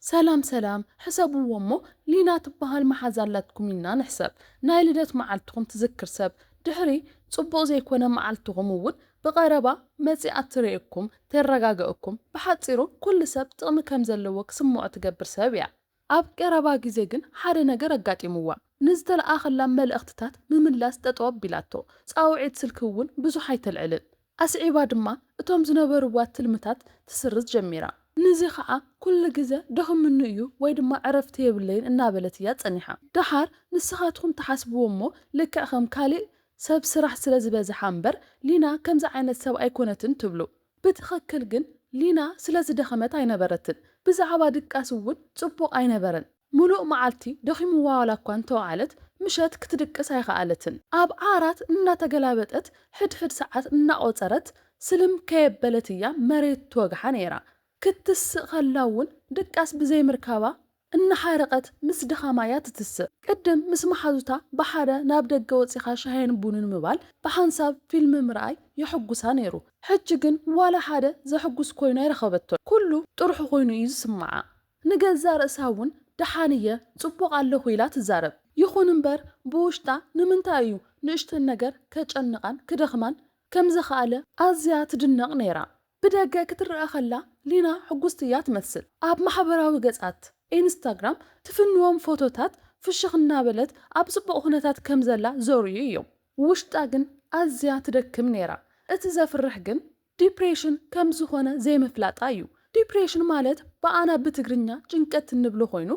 ሰላም ሰላም ሕሰብዎ እሞ ሊና ትበሃል መሓዛ ኣላትኩም ኢልና ንሕሰብ ናይ ልደት መዓልትኹም ትዝክር ሰብ ድሕሪ ጽቡቕ ዘይኮነ መዓልትኹም እውን ብቐረባ መጺኣ ትርእየኩም ተረጋገእኩም ብሓጺሩ ኩሉ ሰብ ጥቕሚ ከም ዘለዎ ክስምዖ ትገብር ሰብ እያ ኣብ ቀረባ ግዜ ግን ሓደ ነገር ኣጋጢምዋ ንዝተለኣኸላ መልእኽትታት ምምላስ ጠጠው ኣቢላቶ ጻውዒት ስልኪ እውን ብዙሕ ኣይተልዕልን ኣስዒባ ድማ እቶም ዝነበርዋ ትልምታት ትስርዝ ጀሚራ። ንዚ ኸኣ ኩሉ ግዘ ደኺሙኒ እዩ ወይ ድማ ዕረፍቲ የብለይን እናበለት እያ ጸኒሓ። ደሓር ንስኻትኩም ትሓስብዎ እሞ ልክዕ ከም ካሊእ ሰብ ስራሕ ስለ ዝበዝሓ እምበር ሊና ከምዚ ዓይነት ሰብ ኣይኮነትን ትብሉ። ብትኽክል ግን ሊና ስለ ዝደኸመት ኣይነበረትን። ብዛዕባ ድቃስ እውን ጽቡቕ ኣይነበረን። ምሉእ መዓልቲ ደኺሙዋ ዋላኳ እንተወዓለት ምሸት ክትድቅስ ኣይኸኣለትን። ኣብ ዓራት እናተገላበጠት ሕድሕድ ሰዓት እናቖጸረት ስልም ከየበለት እያ መሬት ትወግሓ ነይራ። ክትስእ ከላ'ውን ድቃስ ብዘይምርካባ እናሓረቐት ምስ ድኻማ እያ ትትስእ። ቅድም ምስ መሓዙታ ብሓደ ናብ ደገ ወጺኻ ሻሂን ቡንን ምባል፣ ብሓንሳብ ፊልም ምርኣይ የሐጉሳ ነይሩ። ሕጂ ግን ዋላ ሓደ ዘሕጉስ ኮይኑ ኣይረኸበቶን። ኩሉ ጥርሑ ኮይኑ እዩ ዝስመዓ። ንገዛእ ርእሳ እውን ደሓን እየ፣ ጽቡቕ ኣለኹ ኢላ ትዛረብ። ይኹን እምበር ብውሽጣ ንምንታይ እዩ ንእሽተን ነገር ከጨንቓን ክደኽማን ከም ዝኸኣለ ኣዝያ ትድነቕ ነይራ። ብደገ ክትረኣ ከላ ሊና ሕጉስቲ እያ ትመስል። ኣብ ማሕበራዊ ገጻት ኢንስታግራም ትፍንዎም ፎቶታት ፍሽኽ እናበለት ኣብ ጽቡቕ ኩነታት ከም ዘላ ዘርእዩ እዮም። ውሽጣ ግን ኣዝያ ትደክም ነይራ። እቲ ዘፍርሕ ግን ዲፕሬሽን ከም ዝኾነ ዘይምፍላጣ እዩ። ዲፕሬሽን ማለት ብኣና ብትግርኛ ጭንቀት እንብሎ ኮይኑ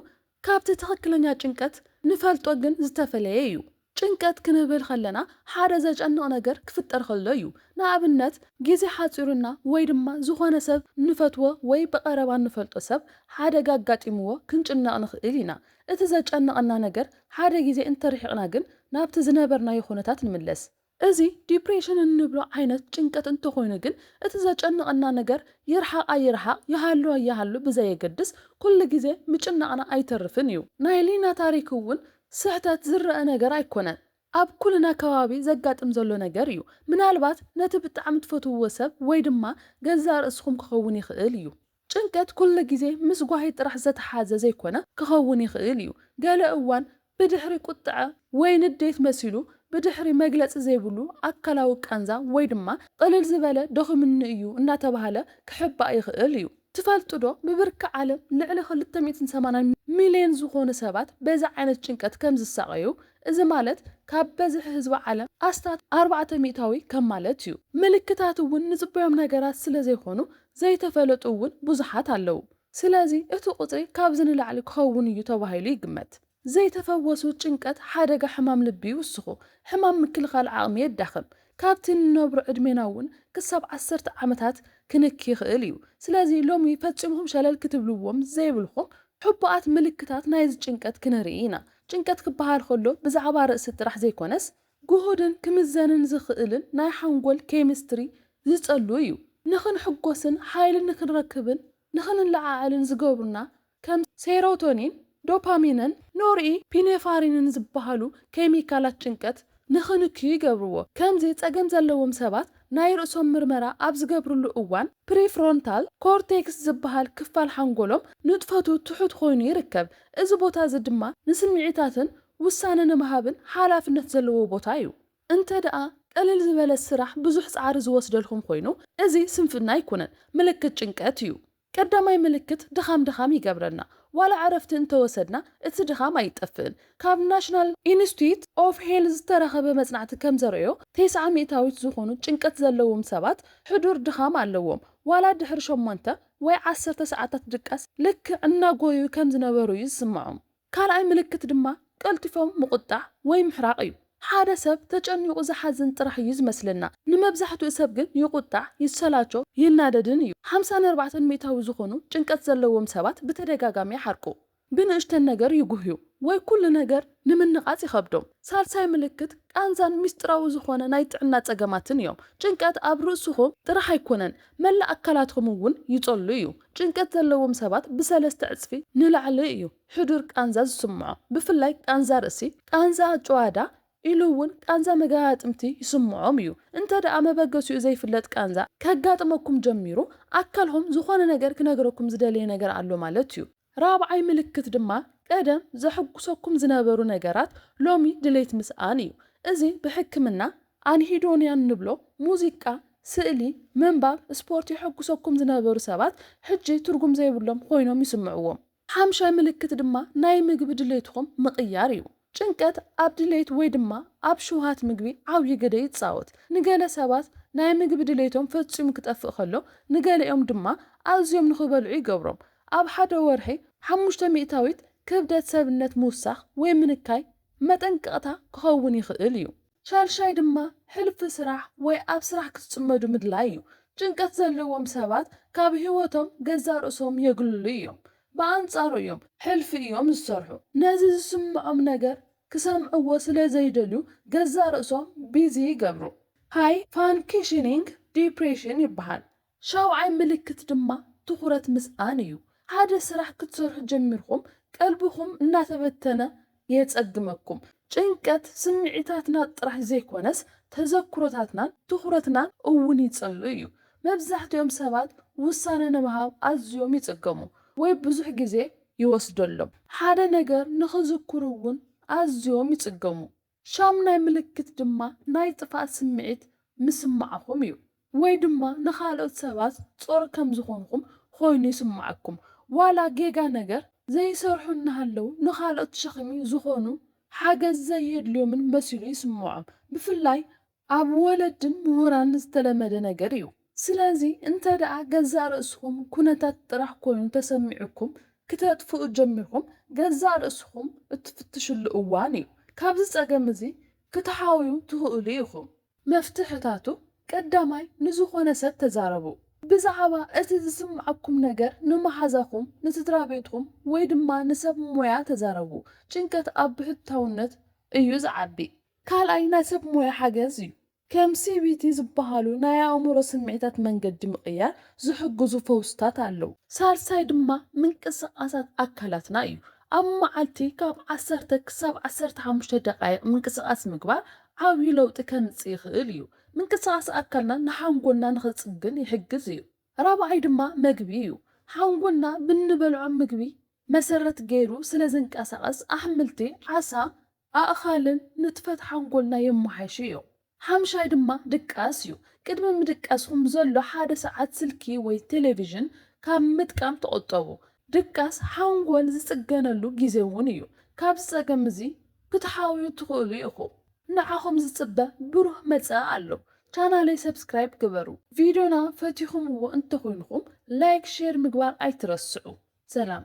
ካብቲ ትኽክለኛ ጭንቀት ንፈልጦ ግን ዝተፈለየ እዩ። ጭንቀት ክንብል ከለና ሓደ ዘጨንቕ ነገር ክፍጠር ከሎ እዩ። ንኣብነት ግዜ ሓጺሩና ወይ ድማ ዝኾነ ሰብ ንፈትዎ ወይ ብቐረባ እንፈልጦ ሰብ ሓደጋ ኣጋጢምዎ ክንጭነቕ ንኽእል ኢና። እቲ ዘጨንቐና ነገር ሓደ ግዜ እንተርሒቕና ግን ናብቲ ዝነበርናዮ ኩነታት ንምለስ። እዚ ዲፕሬሽን እንብሎ ዓይነት ጭንቀት እንተኾይኑ ግን እቲ ዘጨንቐና ነገር ይርሓቕ ኣይርሓቕ ይሃሉ ኣይሃሉ ብዘየገድስ ኩሉ ግዜ ምጭናቕና ኣይተርፍን እዩ። ናይ ሊና ታሪክ እውን ስሕተት ዝረኣ ነገር ኣይኮነን ኣብ ኩልና ከባቢ ዘጋጥም ዘሎ ነገር እዩ። ምናልባት ነቲ ብጣዕሚ ትፈትውዎ ሰብ ወይ ድማ ገዛእ ርእስኹም ክኸውን ይኽእል እዩ። ጭንቀት ኩሉ ግዜ ምስ ጓሂ ጥራሕ ዘተሓዘ ዘይኮነ ክኸውን ይኽእል እዩ። ገለ እዋን ብድሕሪ ቁጥዐ ወይ ንዴት መሲሉ ብድሕሪ መግለጺ ዘይብሉ ኣካላዊ ቃንዛ ወይ ድማ ቕልል ዝበለ ደኺሙኒ እዩ እናተባህለ ክሕባእ ይኽእል እዩ። ትፈልጡ'ዶ ብብርኪ ዓለም ልዕሊ ክልተ ሚእትን ሰማንያን ሚልዮን ዝኾኑ ሰባት በዚ ዓይነት ጭንቀት ከም ዝሳቐዩ፣ እዚ ማለት ካብ በዝሒ ህዝቢ ዓለም ኣስታት ኣርባዕተ ሚእታዊ ከም ማለት እዩ። ምልክታት'ውን ንጽበዮም ነገራት ስለ ዘይኮኑ ዘይተፈለጡ እውን ብዙሓት ኣለዉ። ስለዚ እቲ ቁጽሪ ካብዚ ንላዕሊ ክኸውን እዩ ተባሂሉ ይግመት። ዘይተፈወሱ ጭንቀት ሓደጋ ሕማም ልቢ ይውስኹ፣ ሕማም ምክልኻል ዓቕሚ የዳኽም፣ ካብቲ እንነብሮ ዕድሜና እውን ክሳብ ዓሰርተ ዓመታት ክንኪ ይኽእል እዩ። ስለዚ ሎሚ ፈጺምኩም ሸለል ክትብልዎም ዘይብልኩም ሕቡኣት ምልክታት ናይዚ ጭንቀት ክንርኢ ኢና። ጭንቀት ክበሃል ከሎ ብዛዕባ ርእሲ ጥራሕ ዘይኮነስ፣ ግሁድን ክምዘንን ዝኽእልን ናይ ሓንጎል ኬሚስትሪ ዝጸሉ እዩ። ንኽንሕጎስን ሓይሊ ንኽንረክብን ንኽንለዓዓልን ዝገብሩና ከም ሴሮቶኒን፣ ዶፓሚንን ኖርኢ ፒኔፋሪንን ዝበሃሉ ኬሚካላት ጭንቀት ንኽንክዩ ይገብርዎ። ከምዚ ጸገም ዘለዎም ሰባት ናይ ርእሶም ምርመራ ኣብ ዝገብርሉ እዋን ፕሪፍሮንታል ኮርቴክስ ዝበሃል ክፋል ሓንጎሎም ንጥፈቱ ትሑት ኮይኑ ይርከብ። እዚ ቦታ እዚ ድማ ንስምዒታትን ውሳነ ንምሃብን ሓላፍነት ዘለዎ ቦታ እዩ። እንተድኣ ቅልል ዝበለ ስራሕ ብዙሕ ጻዕሪ ዝወስደልኩም ኮይኑ እዚ ስንፍና ኣይኮነን ምልክት ጭንቀት እዩ። ቀዳማይ ምልክት ድኻም ድኻም ይገብረና ዋላ ዕረፍቲ እንተወሰድና እቲ ድኻም ኣይጠፍእን ካብ National Institute of Health ዝተረኸበ መጽናዕቲ ከም ዘርእዮ ቴስዓ ሚእታዊት ዝኾኑ ጭንቀት ዘለዎም ሰባት ሕዱር ድኻም ኣለዎም ዋላ ድሕሪ ሸሞንተ ወይ ዓሰርተ ሰዓታት ድቃስ ልክዕ እናጎዩ ከም ዝነበሩ እዩ ዝስምዖም። ካልኣይ ምልክት ድማ ቀልጢፎም ምቑጣዕ ወይ ምሕራቕ እዩ። ሓደ ሰብ ተጨኒቑ ዝሓዝን ጥራሕ እዩ ዝመስለና። ንመብዛሕትኡ ሰብ ግን ይቑጣዕ፣ ይሰላቾ፣ ይናደድን እዩ። ሓምሳ ንኣርባዕተ ሚእታዊ ዝኾኑ ጭንቀት ዘለዎም ሰባት ብተደጋጋሚ ይሓርቁ፣ ብንእሽተን ነገር ይጉህዩ፣ ወይ ኩሉ ነገር ንምንቓጽ ይኸብዶም። ሳልሳይ ምልክት ቃንዛን ምስጢራዊ ዝኾነ ናይ ጥዕና ጸገማትን እዮም። ጭንቀት ኣብ ርእስኹም ጥራሕ ኣይኮነን፣ መላእ ኣካላትኩም እውን ይጸሉ እዩ። ጭንቀት ዘለዎም ሰባት ብሰለስተ ዕጽፊ ንላዕሊ እዩ ሕዱር ቃንዛ ዝስምዖ፣ ብፍላይ ቃንዛ ርእሲ፣ ቃንዛ ኣጭዋዳ ኢሉ እውን ቃንዛ መገጣጥምቲ ይስምዖም እዩ። እንተድኣ መበገሲኡ ዘይፍለጥ ቃንዛ ከጋጥመኩም ጀሚሩ ኣካልኹም ዝኾነ ነገር ክነግረኩም ዝደለየ ነገር ኣሎ ማለት እዩ። ራብዓይ ምልክት ድማ ቀደም ዘሕጉሰኩም ዝነበሩ ነገራት ሎሚ ድሌት ምስኣን እዩ። እዚ ብሕክምና፣ ኣንሂዶንያ እንብሎ፣ ሙዚቃ፣ ስእሊ፣ ምንባብ፣ ስፖርት የሕጉሰኩም ዝነበሩ ሰባት ሕጂ ትርጉም ዘይብሎም ኮይኖም ይስምዕዎም። ሓምሻይ ምልክት ድማ ናይ ምግቢ ድሌትኹም ምቕያር እዩ። ጭንቀት ኣብ ድሌት ወይ ድማ ኣብ ሽውሃት ምግቢ ዓብዪ ግደ ይጻወት። ንገለ ሰባት ናይ ምግቢ ድሌቶም ፈጺሙ ክጠፍእ ከሎ፣ ንገሊኦም ድማ ኣዝዮም ንኽበልዑ ይገብሮም። ኣብ ሓደ ወርሒ ሓሙሽተ ሚእታዊት ክብደት ሰብነት ምውሳኽ ወይ ምንካይ መጠንቀቕታ ክኸውን ይኽእል እዩ። ሻድሻይ ድማ ሕልፊ ስራሕ ወይ ኣብ ስራሕ ክትጽመዱ ምድላይ እዩ። ጭንቀት ዘለዎም ሰባት ካብ ህይወቶም ገዛእ ርእሶም የግልሉ እዮም። ብኣንጻሩ እዮም ሕልፊ እዮም ዝሰርሑ። ነዚ ዝስምዖም ነገር ክሰምዕዎ ስለ ዘይደልዩ ገዛእ ርእሶም ቢዚ ይገብሩ። ሃይ ፋንክሽኒንግ ዲፕሬሽን ይበሃል። ሻውዓይ ምልክት ድማ ትኹረት ምስኣን እዩ። ሓደ ስራሕ ክትሰርሑ ጀሚርኩም ቀልብኹም እናተበተነ የጸግመኩም። ጭንቀት ስምዒታትና ጥራሕ ዘይኮነስ ተዘክሮታትናን ትኹረትናን እውን ይጽሉ እዩ። መብዛሕትኦም ሰባት ውሳነ ንምሃብ ኣዝዮም ይጽገሙ ወይ ብዙሕ ግዜ ይወስደሎም። ሓደ ነገር ንኽዝክሩ እውን ኣዝዮም ይጽገሙ። ሻሙናይ ምልክት ድማ ናይ ጥፍኣት ስምዒት ምስማዕኹም እዩ፣ ወይ ድማ ንኻልኦት ሰባት ጾር ከም ዝኾንኹም ኮይኑ ይስምዓኩም። ዋላ ጌጋ ነገር ዘይሰርሑ እናሃለዉ ንኻልኦት ሸኽሚ ዝኾኑ ሓገዝ ዘየድልዮምን መሲሉ ይስምዖም። ብፍላይ ኣብ ወለድን ምሁራን ዝተለመደ ነገር እዩ። ስለዚ እንተደኣ ገዛእ ርእስኹም ኩነታት ጥራሕ ኮይኑ ተሰሚዑኩም ክተጥፍኡ ጀሚርኩም ገዛእ ርእስኹም እትፍትሽሉ እዋን እዩ። ካብዚ ጸገም እዚ ክትሓውዩ ትኽእሉ ኢኹም። መፍትሕታቱ፣ ቀዳማይ ንዝኾነ ሰብ ተዛረቡ። ብዛዕባ እቲ ዝስምዓኩም ነገር ንመሓዛኹም፣ ንስድራቤትኩም ወይ ድማ ንሰብ ሞያ ተዛረቡ። ጭንቀት ኣብ ብሕታውነት እዩ ዝዓቢ። ካልኣይ ናይ ሰብ ሞያ ሓገዝ እዩ። ከም ሲቢቲ ዝበሃሉ ናይ ኣእምሮ ስምዒታት መንገዲ ምቕያር ዝሕግዙ ፈውስታት ኣለዉ። ሳልሳይ ድማ ምንቅስቓሳት ኣካላትና እዩ። ኣብ መዓልቲ ካብ ዓሰርተ ክሳብ ዓሰርተ ሓሙሽተ ደቓይቕ ምንቅስቓስ ምግባር ዓብዩ ለውጢ ከምጽእ ይኽእል እዩ። ምንቅስቓስ ኣካልና ንሓንጎልና ንኽጽግን ይሕግዝ እዩ። ራብዓይ ድማ መግቢ እዩ። ሓንጎልና ብንበልዖ ምግቢ መሰረት ገይሩ ስለ ዝንቀሳቐስ ኣሕምልቲ፣ ዓሳ፣ ኣእኻልን ንጥፈት ሓንጎልና የመሓይሹ እዮም። ሓምሻይ ድማ ድቃስ እዩ። ቅድሚ ምድቃስኩም ዘሎ ሓደ ሰዓት ስልኪ ወይ ቴሌቪዥን ካብ ምጥቃም ተቖጠቡ። ድቃስ ሓንጎል ዝጽገነሉ ግዜ እውን እዩ። ካብዚ ጸገም እዚ ክትሓውዩ ትኽእሉ ኢኹም። ንዓኹም ዝጽበ ብሩህ መጻኢ ኣሎ ቻናለይ ሰብስክራይብ ግበሩ ቪድዮና ፈቲኹምዎ እንተኾይንኹም ላይክ ሼር ምግባር ኣይትረስዑ ሰላም።